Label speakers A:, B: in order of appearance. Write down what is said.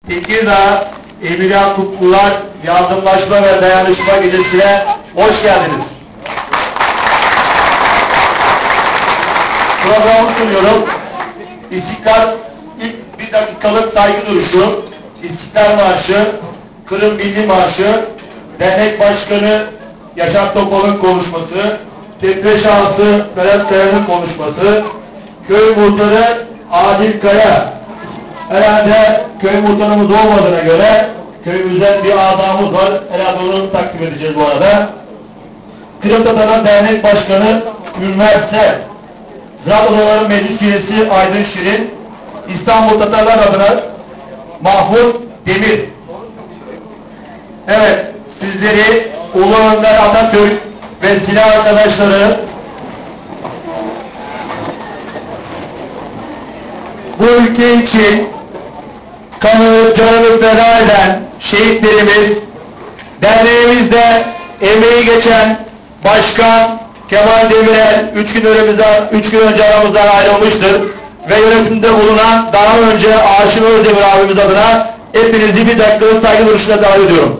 A: Teke daa emirâ qutqular, yardımlaşma ve dayanışma gecesine hoş geldiñiz. Programı sunuyorum. İstiklâl, ilk bir daqiqalıq saygı duruşu, İstiklâl marşı, Qırım Milli Marşı, dernek başqanı, Yaşar Toponıñ qonuşması, Tepe şahısı Ferhat Kayanıñ qonuşması, köy muhtarı Adil Kaya, herhalde köy muhtarımız olmadığına köre, köyümüzden bir azamız var, herhalde onı takdim eteceğiz bu arada, Qırımtatarlar dernek başqanı Ülmer Ser, Ziraat odaları meclis üyesi Aydın Şirin, İstanbul Tatarlar adına Mahmut Demir. Evet, sizleri Ulu Önder Atatürk ve silâ arqadaşları bu ülke için qanını, canını feda eden şehitlerimiz, derneğimizde emeği geçen Başkan Kemal Demirel üç kün ölemizde, üç kün önce aramızdan ayrılmıştır ve yönetimde bulunan daa önce Aşır Özdemir abimiz adına epinizi bir daqiqalıq sayğı duruşında davet ediyorum.